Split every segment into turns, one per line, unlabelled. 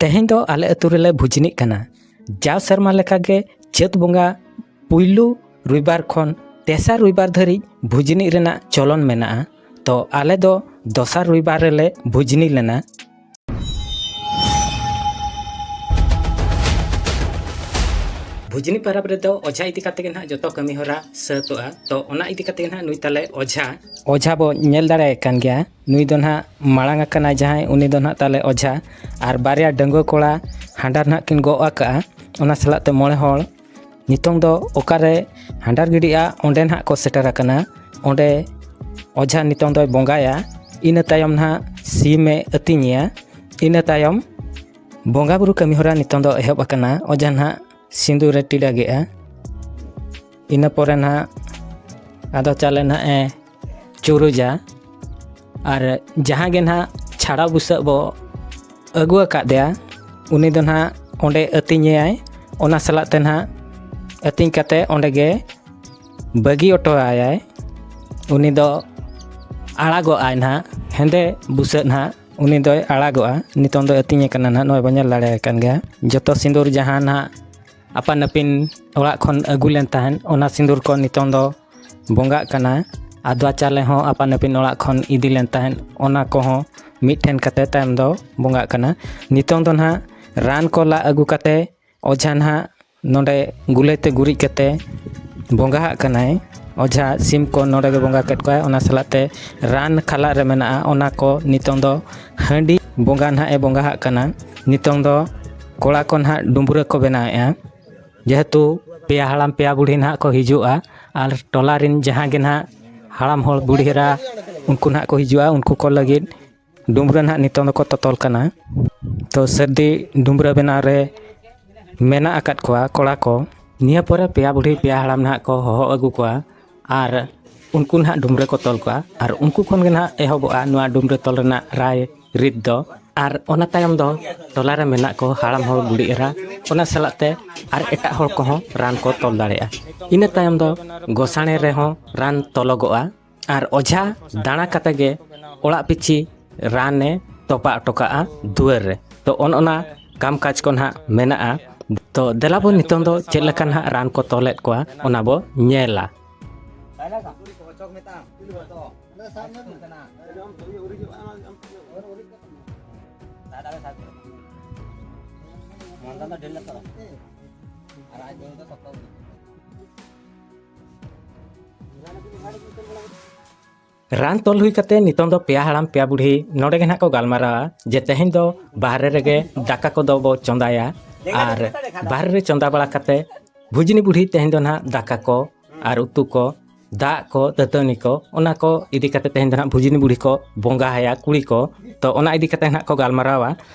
ᱛᱮᱦᱮᱧ ᱫᱚ ᱟᱞᱮ ᱟᱹᱛᱩ ᱨᱮᱞᱮ ᱵᱷᱩᱡᱽᱱᱤᱜ ᱠᱟᱱᱟ ᱡᱟᱣ ᱥᱮᱨᱢᱟ ᱞᱮᱠᱟᱜᱮ ᱪᱟᱹᱛ ᱵᱚᱸᱜᱟ ᱯᱩᱭᱞᱩ ᱨᱩᱭᱵᱟᱨ ᱠᱷᱚᱱ ᱛᱮᱥᱟᱨ ᱨᱩᱭᱵᱟᱨ ᱫᱷᱟᱹᱨᱤᱡ ᱵᱷᱩᱡᱽᱱᱤ ᱨᱮᱱᱟᱜ ᱪᱚᱞᱚᱱ ᱢᱮᱱᱟᱜᱼᱟ ᱛᱚ ᱟᱞᱮ ᱫᱚ ᱫᱚᱥᱟᱨ ᱨᱩᱭᱵᱟᱨ ᱨᱮᱞᱮ ᱵᱷᱩᱡᱽᱱᱤ ᱞᱮᱱᱟ ᱵᱷᱩᱡᱽᱱᱤ ᱯᱟᱨᱟᱵᱽ ᱨᱮᱫᱚ ᱚᱡᱷᱟ ᱤᱫᱤ ᱠᱟᱛᱮ ᱜᱮ ᱱᱟᱦᱟᱜ ᱡᱚᱛᱚ ᱠᱟᱹᱢᱤ ᱦᱚᱨᱟ ᱥᱟᱹᱛᱚᱜᱼᱟ ᱛᱚ ᱚᱱᱟ ᱤᱫᱤ ᱠᱟᱛᱮ ᱜᱮ ᱱᱟᱦᱟᱜ ᱱᱩᱭ ᱛᱟᱞᱮ ᱚᱡᱷᱟ ᱚᱡᱷᱟ ᱵᱚ ᱧᱮᱞ ᱫᱟᱲᱮᱭᱟᱭ ᱠᱟᱱ ᱜᱮᱭᱟ ᱱᱩᱭ ᱫᱚ ᱱᱟᱦᱟᱜ ᱢᱟᱲᱟᱝ ᱟᱠᱟᱱᱟᱭ ᱡᱟᱦᱟᱸᱭ ᱩᱱᱤ ᱫᱚ ᱱᱟᱦᱟᱜ ᱛᱟᱞᱮ ᱚᱡᱷᱟ ᱟᱨ ᱵᱟᱨᱭᱟ ᱰᱟᱺᱜᱩᱣᱟᱹ ᱠᱚᱲᱟ ᱦᱟᱸᱰᱟᱨ ᱱᱟᱦᱟᱜ ᱠᱤᱱ ᱜᱚᱜ ᱟᱠᱟᱫᱼᱟ ᱚᱱᱟ ᱥᱟᱞᱟᱜ ᱛᱮ ᱢᱚᱬᱮ ᱦᱚᱲ ᱱᱤᱛᱚᱝ ᱫᱚ ᱚᱠᱟᱨᱮ ᱦᱟᱸᱰᱟᱨ ᱜᱤᱰᱤᱜᱼᱟ ᱚᱸᱰᱮ ᱱᱟᱦᱟᱜ ᱠᱚ ᱥᱮᱴᱮᱨ ᱟᱠᱟᱱᱟ ᱚᱸᱰᱮ ᱚᱡᱷᱟ ᱱᱤᱛᱚᱝ ᱫᱚᱭ ᱵᱚᱸᱜᱟᱭᱟ ᱤᱱᱟᱹ ᱛᱟᱭᱚᱢ ᱱᱟᱦᱟᱜ ᱥᱤᱢᱮ ᱟᱹᱛᱤᱧᱮᱭᱟ ᱤᱱᱟᱹ ᱛᱟᱭᱚᱢ ᱵᱚᱸᱜᱟ ᱵᱩᱨᱩ ᱠᱟᱹᱢᱤ ᱦᱚᱨᱟ ᱱᱤᱛᱚᱝ ᱫᱚ ᱮᱦᱚᱵ ᱟᱠᱟᱱᱟ ᱚᱡᱷᱟ ᱱᱟᱦᱟᱜ ᱥᱤᱸᱫᱩᱨᱮ ᱴᱤᱰᱟᱹᱜᱮᱜᱼᱟ ᱤᱱᱟᱹ ᱯᱚᱨᱮ ᱱᱟᱦᱟᱜ ᱟᱫᱚ ᱪᱟᱣᱞᱮ ᱱᱟᱦᱟᱜ ᱮ ᱪᱩᱨᱩᱡᱟ ᱟᱨ ᱡᱟᱦᱟᱸ ᱜᱮ ᱱᱟᱦᱟᱜ ᱪᱷᱟᱲᱟ ᱵᱩᱥᱟᱹᱜ ᱵᱚ ᱟᱹᱜᱩ ᱟᱠᱟᱫᱮᱭᱟ ᱩᱱᱤ ᱫᱚ ᱱᱟᱦᱟᱜ ᱚᱸᱰᱮ ᱟᱹᱛᱤᱧᱮᱭᱟᱭ ᱚᱱᱟ ᱥᱟᱞᱟᱜ ᱛᱮ ᱱᱟᱦᱟᱜ ᱟᱹᱛᱤᱧ ᱠᱟᱛᱮ ᱚᱸᱰᱮ ᱜᱮ ᱵᱟᱹᱜᱤ ᱚᱴᱚ ᱟᱭᱟᱭ ᱩᱱᱤ ᱫᱚ ᱟᱲᱟᱜᱚᱜᱼᱟᱭ ᱱᱟᱦᱟᱜ ᱦᱮᱸᱫᱮ ᱵᱩᱥᱟᱹᱜ ᱱᱟᱦᱟᱜ ᱩᱱᱤ ᱫᱚᱭ ᱟᱲᱟᱜᱚᱜᱼᱟ ᱱᱤᱛᱚᱝ ᱫᱚ ᱟᱹᱛᱤᱧ ᱟᱠᱟᱱᱟ ᱱᱟᱦᱟᱜ ᱱᱚᱜᱼᱚᱭ ᱵᱚ ᱧᱮᱞ ᱫᱟᱲᱮ ᱟᱠᱟᱱ ᱜᱮᱭᱟ ᱡᱚᱛᱚ ᱥᱤᱸᱫᱩᱨ ᱡᱟᱦᱟᱸ ᱱᱟᱦᱟᱜ ᱟᱯᱟᱱ ᱟᱹᱯᱤᱱ ᱚᱲᱟᱜ ᱠᱷᱚᱱ ᱟᱹᱜᱩ ᱞᱮᱱ ᱛᱟᱦᱮᱸᱫ ᱚᱱᱟ ᱥᱤᱸᱫᱩᱨ ᱠᱚ ᱱᱤᱛᱚᱝ ᱫᱚ ᱵᱚᱸᱜᱟᱜ ᱠᱟᱱᱟ ᱟᱫᱽᱣᱟ ᱪᱟᱣᱞᱮ ᱦᱚᱸ ᱟᱯᱟᱱ ᱟᱹᱯᱤᱱ ᱚᱲᱟᱜ ᱠᱷᱚᱱ ᱤᱫᱤ ᱞᱮᱱ ᱛᱟᱦᱮᱸᱫ ᱚᱱᱟ ᱠᱚᱦᱚᱸ ᱢᱤᱫ ᱴᱷᱮᱱ ᱠᱟᱛᱮ ᱛᱟᱭᱚᱢ ᱫᱚ ᱵᱚᱸᱜᱟᱜ ᱠᱟᱱᱟ ᱱᱤᱛᱚᱝ ᱫᱚ ᱱᱟᱦᱟᱜ ᱨᱟᱱ ᱠᱚ ᱞᱟ ᱟᱹᱜᱩ ᱠᱟᱛᱮ ᱚᱡᱷᱟ ᱱᱟᱦᱟᱜ ᱱᱚᱰᱮ ᱜᱩᱞᱟᱹᱭ ᱛᱮ ᱜᱩᱨᱤᱡ ᱠᱟᱛᱮ ᱵᱚᱸᱜᱟ ᱦᱟᱜ ᱠᱟᱱᱟᱭ ᱚᱡᱷᱟ ᱥᱤᱢ ᱠᱚ ᱱᱚᱰᱮ ᱜᱮ ᱵᱚᱸᱜᱟ ᱠᱮᱫ ᱠᱚᱣᱟᱭ ᱚᱱᱟ ᱥᱟᱞᱟᱜ ᱛᱮ ᱨᱟᱱ ᱠᱷᱟᱞᱟᱜ ᱨᱮ ᱢᱮᱱᱟᱜᱼᱟ ᱚᱱᱟ ᱠᱚ ᱱᱤᱛᱚᱝ ᱫᱚ ᱦᱟᱺᱰᱤ ᱵᱚᱸᱜᱟ ᱱᱟᱦᱟᱜ ᱮ ᱵᱚᱸᱜᱟ ᱦᱟᱜ ᱠᱟᱱᱟ ᱱᱤᱛᱚᱝ ᱫᱚ ᱠᱚᱲᱟ ᱠᱚ ᱱᱟᱦᱟᱜ ᱰᱩᱢᱵᱽᱨᱟᱹ ᱠᱚ ᱵᱮᱱᱟᱣᱮᱜᱼᱟ ᱡᱮᱦᱮᱛᱩ ᱯᱮᱭᱟ ᱦᱟᱲᱟᱢ ᱯᱮᱭᱟ ᱵᱩᱲᱦᱤ ᱱᱟᱦᱟᱜ ᱠᱚ ᱦᱤᱡᱩᱜᱼᱟ ᱟᱨ ᱴᱚᱞᱟ ᱨᱮᱱ ᱡᱟᱦᱟᱸ ᱜᱮ ᱱᱟᱦᱟᱜ ᱦᱟᱲᱟᱢ ᱦᱚᱲ ᱵᱩᱲᱦᱤ ᱮᱨᱟ ᱩᱱᱠᱩ ᱱᱟᱦᱟᱜ ᱠᱚ ᱦᱤᱡᱩᱜᱼᱟ ᱩᱱᱠᱩ ᱠᱚ ᱞᱟᱹᱜᱤᱫ ᱰᱩᱢᱨᱟᱹ ᱱᱟᱦᱟᱜ ᱱᱤᱛᱚᱝ ᱫᱚᱠᱚ ᱛᱚᱛᱚᱞ ᱠᱟᱱᱟ ᱛᱚ ᱥᱟᱹᱨᱫᱤ ᱰᱩᱢᱨᱟᱹ ᱵᱮᱱᱟᱣ ᱨᱮ ᱢᱮᱱᱟᱜ ᱟᱠᱟᱫ ᱠᱚᱣᱟ ᱠᱚᱲᱟ ᱠᱚ ᱱᱤᱭᱟᱹ ᱯᱚᱨᱮ ᱯᱮᱭᱟ ᱵᱩᱲᱦᱤ ᱯᱮᱭᱟ ᱦᱟᱲᱟᱢ ᱱᱟᱦᱟᱜ ᱠᱚ ᱦᱚᱦᱚ ᱟᱹᱜᱩ ᱠᱚᱣᱟ ᱟᱨ ᱩᱱᱠᱩ ᱱᱟᱦᱟᱜ ᱰᱩᱢ ᱨᱮᱠᱚ ᱛᱚᱞ ᱠᱚᱣᱟ ᱟᱨ ᱩᱱᱠᱩ ᱠᱷᱚᱱ ᱜᱮ ᱱᱟᱦᱟᱜ ᱮᱦᱚᱵᱚᱜᱼᱟ ᱱᱚᱣᱟ ᱰᱩᱢ ᱨᱮ ᱛᱚᱞ ᱨᱮᱱᱟᱜ ᱨᱟᱭ ᱨᱤᱛ ᱫᱚ ᱟᱨ ᱚᱱᱟ ᱛᱟᱭᱚᱢ ᱫᱚ ᱴᱚᱞᱟ ᱨᱮ ᱢᱮᱱᱟᱜ ᱠᱚ ᱦᱟᱲᱟᱢ ᱦᱚᱲ ᱵᱩᱲᱦᱤ ᱮᱨᱟ ᱚᱱᱟ ᱥᱟᱞᱟᱜ ᱛᱮ ᱟᱨ ᱮᱴᱟᱜ ᱦᱚᱲ ᱠᱚᱦᱚᱸ ᱨᱟᱱ ᱠᱚ ᱛᱚᱞ ᱫᱟᱲᱮᱭᱟᱜᱼᱟ ᱤᱱᱟᱹ ᱛᱟᱭᱚᱢ ᱫᱚ ᱜᱚᱥᱟᱬᱮ ᱨᱮᱦᱚᱸ ᱨᱟᱱ ᱛᱚᱞᱚᱜᱚᱜᱼᱟ ᱟᱨ ᱚᱡᱷᱟ ᱫᱟᱬᱟ ᱠᱟᱛᱮᱫ ᱜᱮ ᱚᱲᱟᱜ ᱯᱤᱪᱷᱤ ᱨᱟᱱᱮ ᱛᱚᱯᱟ ᱦᱚᱴᱚ ᱠᱟᱜᱼᱟ ᱫᱩᱣᱟᱹᱨ ᱨᱮ ᱛᱚ ᱚᱱ ᱚᱱᱟ ᱠᱟᱢ ᱠᱟᱡᱽ ᱠᱚ ᱱᱟᱦᱟᱜ ᱢᱮᱱᱟᱜᱼᱟ ᱛᱚ ᱫᱮᱞᱟ ᱵᱚᱱ ᱱᱤᱛᱚᱝ ᱫᱚ ᱪᱮᱫ ᱞᱮᱠᱟ ᱱᱟᱦᱟᱜ ᱨᱟᱱ ᱠᱚ ᱛᱚᱞᱮᱫ ᱠᱚᱣᱟ ᱚᱱᱟ ᱵᱚ ᱧᱮᱞᱟ ᱨᱟᱱ ᱛᱚᱞ ᱦᱩᱭ ᱠᱟᱛᱮ ᱱᱤᱛᱚᱝ ᱫᱚ ᱯᱮᱭᱟ ᱦᱟᱲᱟᱢ ᱯᱮᱭᱟ ᱵᱩᱲᱦᱤ ᱱᱚᱰᱮ ᱜᱮ ᱱᱟᱦᱟᱜ ᱠᱚ ᱜᱟᱞᱢᱟᱨᱟᱣᱟ ᱡᱮ ᱛᱮᱦᱮᱧ ᱫᱚ ᱵᱟᱦᱨᱮ ᱨᱮᱜᱮ ᱫᱟᱠᱟ ᱠᱚᱫᱚ ᱵᱚ ᱪᱚᱸᱫᱟᱭᱟ ᱟᱨ ᱵᱟᱦᱨᱮ ᱨᱮ ᱪᱚᱸᱫᱟ ᱵᱟᱲᱟ ᱠᱟᱛᱮ ᱵᱷᱩᱡᱽᱱᱤ ᱵᱩᱲᱦᱤ ᱛᱮᱦᱮᱧ ᱫᱚ ᱱᱟᱦᱟᱜ ᱫᱟᱠᱟ ᱠᱚ ᱟᱨ ᱩᱛᱩ ᱠᱚ ᱫᱟᱜ ᱠᱚ ᱫᱟᱹᱛᱟᱹᱱᱤ ᱠᱚ ᱚᱱᱟ ᱠᱚ ᱤᱫᱤ ᱠᱟᱛᱮ ᱛᱮᱦᱮᱧ ᱫᱚ ᱱᱟᱦᱟᱜ ᱵᱷᱩᱡᱽᱱᱤ ᱵᱩᱲᱦᱤ ᱠᱚ ᱵᱚᱸᱜᱟ ᱟᱭᱟ ᱠᱩᱲᱤ ᱠᱚ ᱛᱚ ᱚᱱᱟ ᱤᱫᱤ ᱠᱟᱛᱮ ᱱᱟᱦᱟᱜ ᱠᱚ ᱜᱟᱞᱢᱟᱨᱟᱣᱟ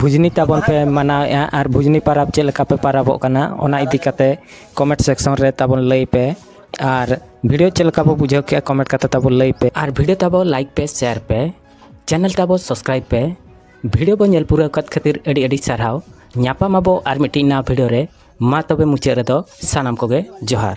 ᱵᱷᱩᱡᱽᱱᱤ ᱛᱟᱵᱚᱱ ᱯᱮ ᱢᱟᱱᱟᱣᱮᱫᱼᱟ ᱟᱨ ᱵᱷᱩᱡᱽᱱᱤ ᱯᱟᱨᱟᱵᱽ ᱪᱮᱫ ᱞᱮᱠᱟ ᱯᱮ ᱯᱟᱨᱟᱵᱚᱜ ᱠᱟᱱᱟ ᱚᱱᱟ ᱤᱫᱤ ᱠᱟᱛᱮ ᱠᱚᱢᱮᱱᱴ ᱥᱮᱠᱥᱚᱱ ᱨᱮ ᱛᱟᱵᱚᱱ ᱞᱟᱹᱭ ᱯᱮ ᱟᱨ ᱵᱷᱤᱰᱤᱭᱳ ᱪᱮᱫ ᱞᱮᱠᱟ ᱵᱚ ᱵᱩᱡᱷᱟᱹᱣ ᱠᱮᱜᱼᱟ ᱠᱚᱢᱮᱱᱴ ᱠᱟᱛᱮ ᱛᱟᱵᱚ ᱞᱟᱹᱭ ᱯᱮ ᱟᱨ ᱵᱷᱤᱰᱤᱭᱳ ᱛᱟᱵᱚ ᱞᱟᱭᱤᱠ ᱯᱮ ᱥᱮᱭᱟᱨ ᱯᱮ ᱪᱮᱱᱮᱞ ᱛᱟᱵᱚ ᱥᱟᱵᱥᱠᱨᱟᱭᱤᱵ ᱯᱮ ᱵᱷᱤᱰᱤᱭᱳ ᱵᱚ ᱧᱮᱞ ᱯᱩᱨᱟᱹᱣ ᱠᱟᱫ ᱠᱷᱟᱹᱛᱤᱨ ᱟᱹᱰᱤ ᱟᱹᱰᱤ ᱥᱟᱨᱦᱟᱣ ᱧᱟᱯᱟᱢ ᱟᱵᱚ ᱟᱨ ᱢᱤᱫᱴᱤᱡ ᱱᱟᱣᱟ ᱵᱷᱤᱰᱤᱭᱳ ᱨᱮ ᱢᱟ ᱛᱚᱵᱮ ᱢᱩᱪᱟᱹᱫ ᱨᱮᱫᱚ ᱥᱟᱱᱟᱢ ᱠᱚᱜᱮ ᱡᱚᱦᱟᱨ